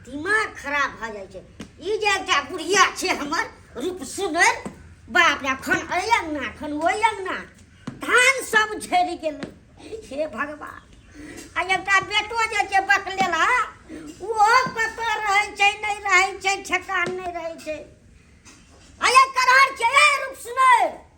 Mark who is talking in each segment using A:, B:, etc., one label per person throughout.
A: दिमाग खराब भऽ जाइ छै ई जे एकटा बुढ़िया छै हमर रूप सुनर बाप रे खन एहि अङ्गना खन ओहि अङ्गना धान सब झड़ि गेलै हे भगवान आ एकटा बेटो जे छै बकलेला ओहो कतऽ रहै छै नहि रहै छै ठेकान नहि रहै छै आ एक करहर छै ए रूप सुनर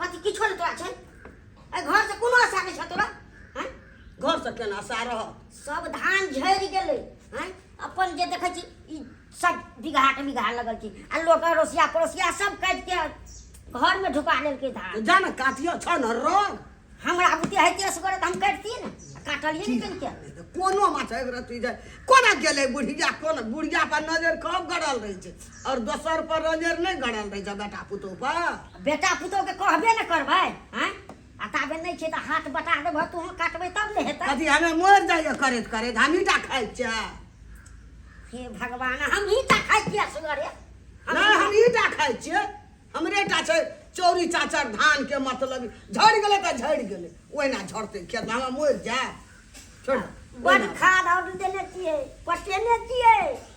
B: कथी किछो नहि तोरा
A: छै एहि घरसँ कोनो आशा नहि छौ तोरा हँ घरसँ केना
B: आशा रह सब धान
A: झड़ि गेलै हँ अपन जे देखै छी ई सब बिगहा के बिगहा लगल छी आ लोक अड़ोसिया पड़ोसिया सब काटि के घरमे ढुका लेलकै धान जा ने काटियो छौ
B: ने रंग हमरा बुते
A: होइते असगर तऽ हम काटितियै ने काटलियै ने कनिके कोनो माछ एक
B: रत्ती जे कोना गेलै बुढ़िया कोना बुढ़िया पर नजर कब गड़ल रहै छै और दोसर पर रंजेर नहीं गड़ल रहे बेटा पुतोह पर बेटा पुतोह के
A: कहबे न करबे हैं आ ताबे नहीं छे त हाथ बटा देबह तू काटबे तब ने हेतै कथी हमें मर जाइए
B: करैत करैत हम ईटा खाइ छियै हे
A: भगवान हम ईटा खाइ छियै सुगरे नहीं हम
B: ईटा खाइ छियै हमरे टा छै चौरी चाचर धान के मतलब झड़ गेलै तऽ झड़ गेलै ओहिना झड़तै खेत हमें मर जाए छोड़ बड़ खाद
A: और देने छिए पटेने छिए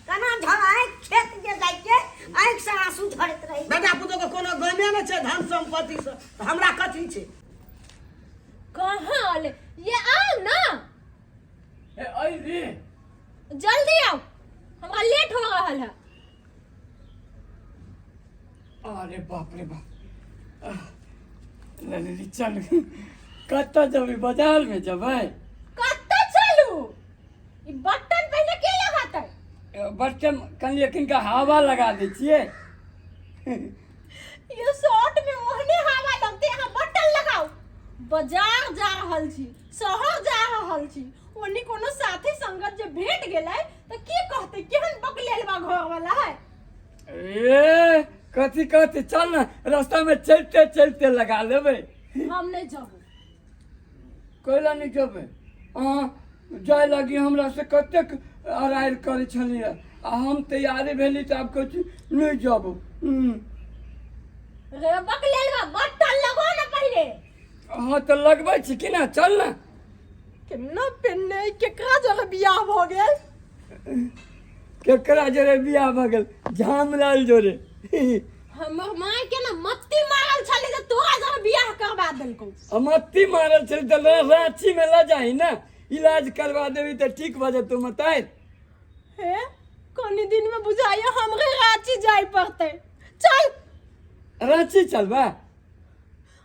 A: कना झड़ाए खेत जे जाय के आंख से आंसू झड़त रही बेटा पुतो के कोनो
B: गमे न छै धन संपत्ति से त हमरा कथि छै
C: कहल ये आओ ना
D: ए आई रे जल्दी
C: आओ हमरा लेट हो रहल है
D: अरे बाप रे बाप ललिली चल कतऽ जेबै बाजारमे जेबै कतऽ
C: चलू ई बटन पहिने के लगातै बटन
D: कनि एखनका हवा लगा दै छियै
C: यो शॉर्ट में ओहने हवा लगते यहाँ बटन लगाओ बाजार जा रहल छी शहर जा रहल छी ओने कोनो साथी संगत जे भेट गेलै तऽ की कहतै
D: केहन बकलेल बा घर वाला है ए कथी कहते चल ना रास्ता में चलते चलते लगा लेबे हम नहीं
C: जाबो
D: कैला नहीं जेबै अहाँ जाय लागी हमरा से कतेक अराइर करै छलियै आ हम तैयारी भेली तऽ आब कहै छी नहि जाबो हम्म,
C: रे बकलेल बा बटन लगो ना पहिले हाँ तऽ
D: लगबै छी कि ना चल ना केना
C: पेन्ने केकरा जरे बियाह भऽ गेल केकरा
D: जरे बियाह भऽ गेल झामलाल जरे हमर
C: माय के ना मत्ती मारल छली जे तोरा जरे बियाह करवा देलकौ अमत्ती मारल
D: छल तऽ रा- रांची में लऽ जाही ना इलाज करवा देबी तऽ ठीक भऽ जेतौ मताय हे
C: कनी दिन में बुझाइए हमरे रांची जाय पड़ते चल
D: रांची चलबा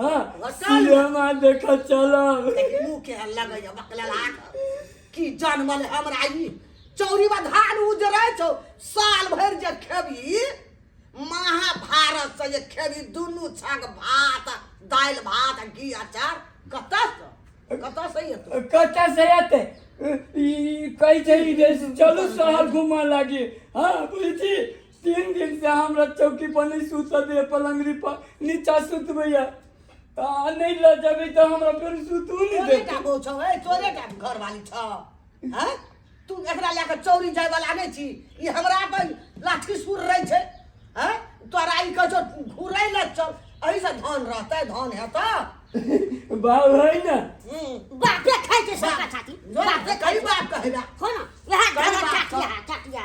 D: हाँ सिनेमा देख चलब मुँह के
B: लगे बकला लाख की जनमल हमरा ई चौरी में धान उजरे छौ साल भर जे खेबी महाभारत से जे खेबी दुनू छक भात दाल भात घी अचार कत से कत से एतौ कत से एतै
D: ई कहै छै चलू शहर घुमा लागी हाँ बुझी तीन दिन से हमरा चौकी पर नहीं सूत दे पलंगरी पर नीचा सुतबैया आ नहीं ल जाबे त हमरा फेर सुतू नहीं तोरे देते का बो छौ ए तोरे
B: का घर वाली छौ हैं तू एकरा ले के चौरी जाय वाला नै छी ई हमरा अपन लाठी सुर रहै छै हैं तोरा ई कह छौ घुरै ल चल एहि से धन रहतै धन हेतौ
D: बाबू है ना हम्म, बापे
A: खाइ छै सबका छाती बाप से कई बाप
B: कहबा हो न यहाँ
A: कई घर बाप छातिया
B: छातिया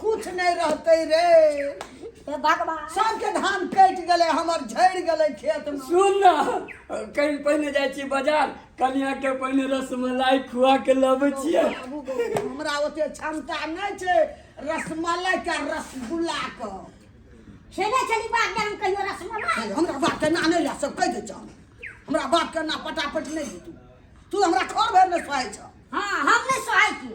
B: कुछ नहीं रहते रे तो भगवान
A: सबके धान कट
B: गले हमर झड़ गले खेत में सुन ना
D: कहीं पहिने जाइ छी बाजार कनिया के पहिने रसमलाई खुआ के लबै छियै बाबू गो, हमरा
B: ओते क्षमता नहीं छे रसमलाई का रसगुल्ला का खेले
A: चली बात गरम कहियो रसमलाई हमरा बाप के ना नहीं
B: ला सब कह दे छो हमरा बाप के ना पटापट नहीं दे तू तू हमरा खोर भर में सोए छो हाँ हम नहीं
A: सोहाई की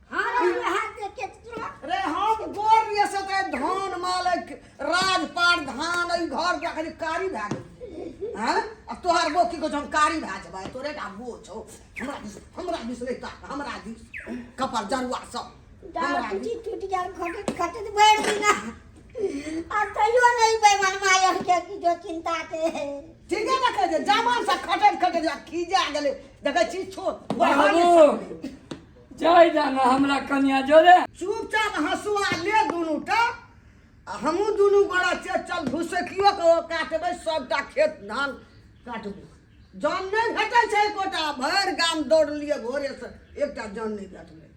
A: रे हम
B: गोर लिए से ते धान मालक राजपाट धान ई घर के खाली कारी भए गेल हैं अब तोहर बो की को हम कारी भए जबै तोरे का बो छौ हमरा दिस हमरा दिस नहीं ता हमरा दिस कपर जरुआ सब हमरा दिस टूट गया खटत
A: खटत बैठ दिना आ तैयो नहीं बेमन माया के की जो चिंता के ठीक है ना
B: कहे जवान सा खटत खटत जा खीजा गेले देखै छी छो बाबू
D: जाय जाना हमरा कन्या जोरे चुपचाप हंसुआ
B: ले दुनू टा आ हमहूँ दुनू गोड़ा से चल भुसकियो के ओ काटबै सभटा खेत धान काटबै जन नहि भेटै छै एकोटा भरि गाम दौड़ लिअ भोरेसँ एकटा जन नहि भेटलै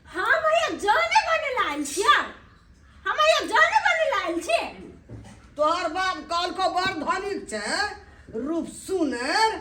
B: हम
C: हैया जाने बने लाल छियै हम हैया जाने बने लाल छी तोहर
B: बाप कहलको बड़ धनिक छै रूप सुनर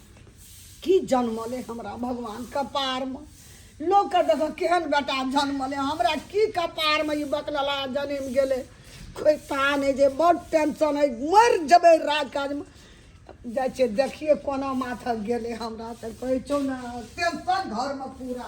B: की जन्मले हमरा भगवान कपारमे लोकके देखऽ केहन बेटा जन्मले हमरा की कपारमे ई बकलला जन्म गेलै कोइ तान है जे बड़ टेंशन है मरि जेबै राज काजमे जाइ छियै देखियै कोना माथक गेलै हमरा तऽ कहै छौ ने टेंशन घरमे पूरा